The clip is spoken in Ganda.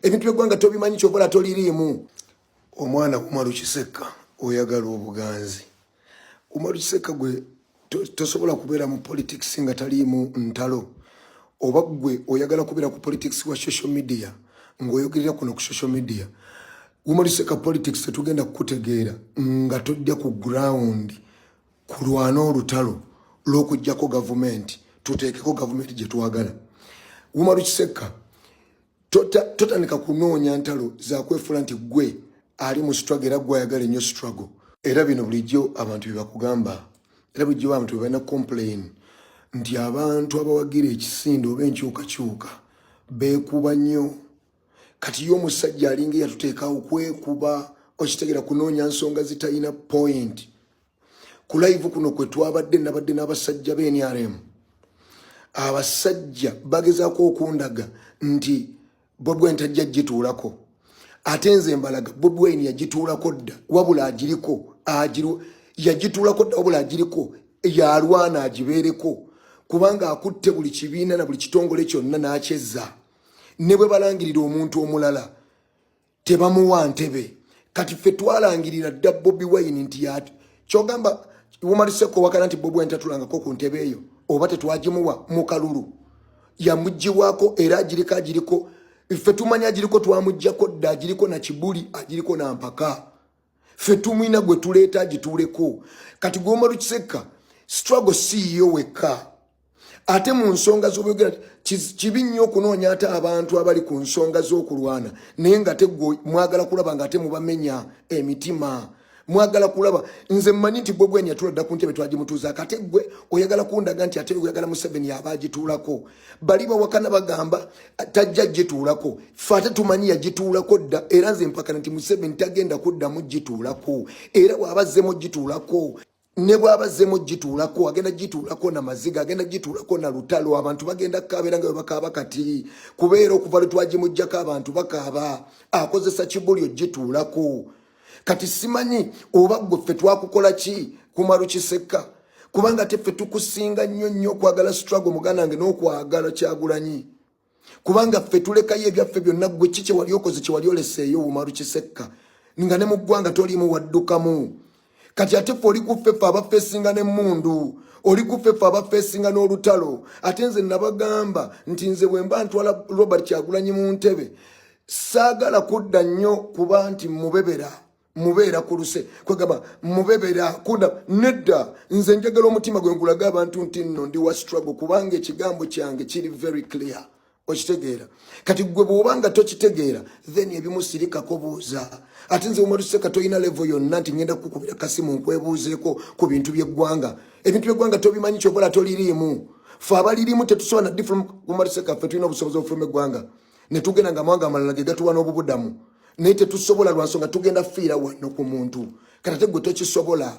ebintu byegwanga tobimanyi kyokola toliriimu omwana kumalu kisekka oyagala obuganzi kumalu kisekka gwe tosobola kubeera mu politics nga taliimu ntalo oba gwe oyagala kubeera ku politics wa social media ngaoyogerera kuno ku social media kumalu kisekka politics tetugenda kukutegeera nga tojja ku ground kulwana olutalo lwokujjako gavumenti tuteekeko gavumenti gyetwagala kumalu kisekka totandika kunoonya ntalo zakwefula nti gwe ali mu struggle era gwe ayagala ennyo struggle era bino bulijjo abantu byebakugamba era bulijjo abantu bebalina complain nti abantu abawagira ekisinde oba enkyukakyuka bekuba nnyo kati yo omusajja alinga eyatuteekawo kwekuba okitegera kunoonya nsonga zitalina point ku live kuno kwe twabadde nabadde n'abasajja be nrm abasajja bagezako okundaga nti bobi wine tajja gituulako ate nze mbalaga bobi wine yagituulako dda wabula agiriko yagituulako dda wabula agiriko yalwana agibeereko kubanga akutte buli kibiina na buli kitongole kyonna n'akyezza ne bwe balangirira omuntu omulala tebamuwa ntebe kati ffe twalangirira dda bobi wine nti yati kyogamba womaliseko wakana nti bobi wine tatulangako ku ntebe eyo oba tetwagimuwa mu kalulu yamuggiwako era agiriko agiriko ffe tumanya agiriko twamuggyako dda agiriko na kibuli agiriko na mpaka ffe tumwina gwe tuleeta agituuleko kati gwomala kisekka struggle siiyo wekka ate mu nsonga zobyogera kibi nnyo okunoonya ate abantu abali ku nsonga z'okulwana naye nga te gwe mwagala kulaba nga ate mubamenya emitima mwagala kulaba nze mmanyi nti gwe gwenyatula dda ku ntebe twagimutuuzaako ate gwe oyagala kundaga nti ate oyagala museveni aba agituulako bali bawakana bagamba tajja gituulako fe ate tumanyi yagituulako dda era nze mpakana nti museveni tagenda kuddamu gituulako era waaba azzemu gituulako ne bwaba azzemu gituulako agenda gituulako na maziga agenda gituulako na lutalo abantu bagenda kukaabera nga bwe bakaaba kati kubeera okuva lwe twagimuggyako abantu bakaaba akozesa kibuli ogituulako kati simanyi oba gwe ffe twakukola ki kumalu kisekka kubanga te ffe tukusinga nnyo nnyo okwagala struggle muganda nge n'okwagala kyagulanyi kubanga ffe tulekayo ebyaffe byonna gwe ki kyewali okoze kyewali oleseeyo umalu kisekka nga ne mu ggwanga toliimu waddukamu kati ate ffe oli kuffeffe abafeesinga n'emmundu oli kuffeffe abafeesinga n'olutalo ate nze nabagamba nti nze bwe mba ntwala robert kyagulanyi mu ntebe saagala kudda nnyo kuba nti mubebera mubeera ku luse kwegamba mubebera kudda nedda nze njagala omutima gwe nkulaga abantu nti nno ndi wa struggle kubanga ekigambo kyange kiri very clear okitegeera kati gwe bwoba nga tokitegeera then ebimu sirikako buuza ate nze umatuseka tolina levo yonna nti ngenda kukubira kasimu nkwebuuzeeko ku bintu byeggwanga ebintu byeggwanga tobimanyi kyobola toliriimu fe abaliriimu tetusobola na difuluma umatuseka fe tulina obusobozi obufuluma eggwanga ne tugenda nga amawanga amalala ge gatuwa n'obubudamu naye tetusobola lwa nsonga tugenda fiira wano ku muntu kati ate gwe tokisobola